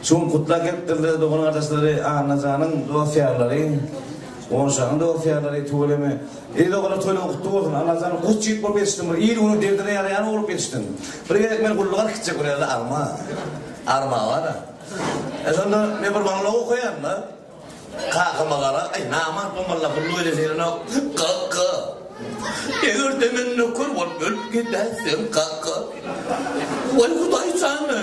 Şu gün gutlap gelipdir dogan-gardaşlary, Annajanyň dost-ýarlary, Gonşagyň dost-ýarlary tüweleme. Eý doganlar toýlaryň gutly bolsun. Annajan guş ýigit bolup ýetişdiň bir il-günüň derdine ýaraýan ogul bolup ýetişdiň. Bir gezek men gulluga gitjek bir ýerde alma. Arma bar-a. E şonda men bir maňlaw okaýan-da. Kakama garap, Aý namart bu malla gullugy edeseýenok. Kaka. Eger-de men nöker bolup ölüp gidäýsem kaka. Waý hudaý jany.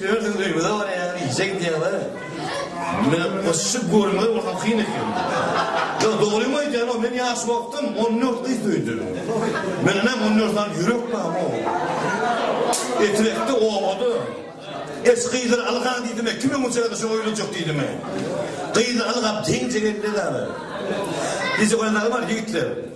Özüň öýüňize barýaň işe gidýäň we meni goşşy görüňize bolsaň kyn eken. Ýok dogrymy aýdýanok men ýaş wagtym on dört gyz söýdüm. Mendem on dört sany ýürek barmy ow. Etrekde obada Eş gyzlar algaň diýdime kim öňe çykardy şoňa öýlenjek diýdime. Gyzlar algap teňje geldi zada. Diýjek oýanlaryň bar ýigitler.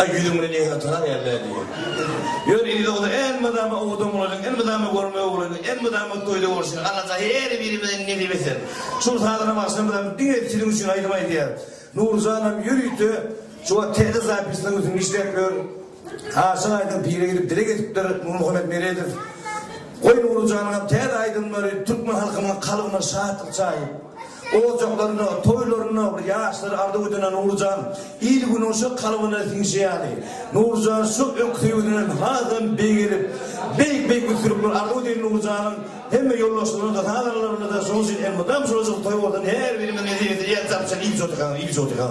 Aý ýüzüňde nähili tyrar ýaly-dä diýýär. Ýöne indi dogry elmydama owada bolaýyň, elmydama görmew bolaýyň, elmydama toýda bolşuň, Allajan her birimize nesip etsin. Şol sazana bagşymyzam diňe siziň üçin aýdym aýdýar. Nurjanam ýörite şu wagt täze zapisleriň üstünde işläp ýör. Aşyk aýdym pire gidip dileg edipdir, Nurmuhammet Meredow. Goý Nurjanyňam täze aýdymlary türkmen halkynyň kalbyna şatlyk çaýyp. Ojaklarynda, toýlarynda bir ýaşlar arzuw-üdene Nurjan il günoşa kalbyna siňşi ýaly. Nurjan şu ökde ýüzünden hasam beýgelip, beýik-beýik üstünlikler arzuw edýän Nurjanyň hemme ýoldaşlaryna-da, sazanalaryna-da şonuň üçin elmydam şularjyk toý bolsun, her birimiziň nesibesine ýetsin, Abşan il jody-ha, il jody-ha.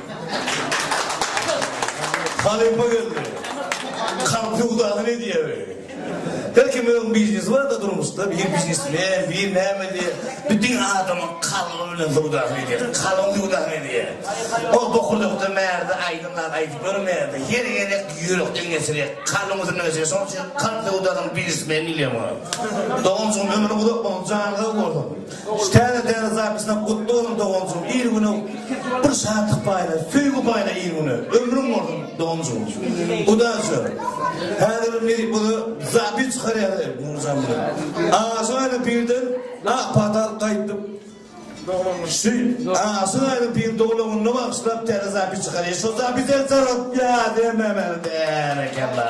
Halypa geldi. Kalp söwdasyny edýär. Her kimiň öz biznesi bar-da durmuşda. Biri biznesmen, biri näme diýýär. Bütin adamyň kalby bilen söwdasyny edýär. Kalbyň söwdasyny edýär. Ol bokurdakydan bärde aýdym zat aýdyp görmeýär-de. Her gezek ýürekden geçirýär. Kalbyň üstünden geçirýär. Şonuň üçin kalp söwdasynyň biznesmeni diýilýär muňa. Doganjygym ömrüň uzak bolsun, janyň sag bolsun. Şu täze däne zapisyna gutly bolsun doganjygym il güne bir şatlyk paýla söýgi paýla il güne ömrüň bolsun doganjygym udaçi häzir indi bu zapis çykarýar munujan bilen aşyk aýly birden ak patal gaýdyp şu aşyk aýly bir dogulanyna bagyşlap täze zapis çykarýar şu zapis ensar ýa dememeli berekella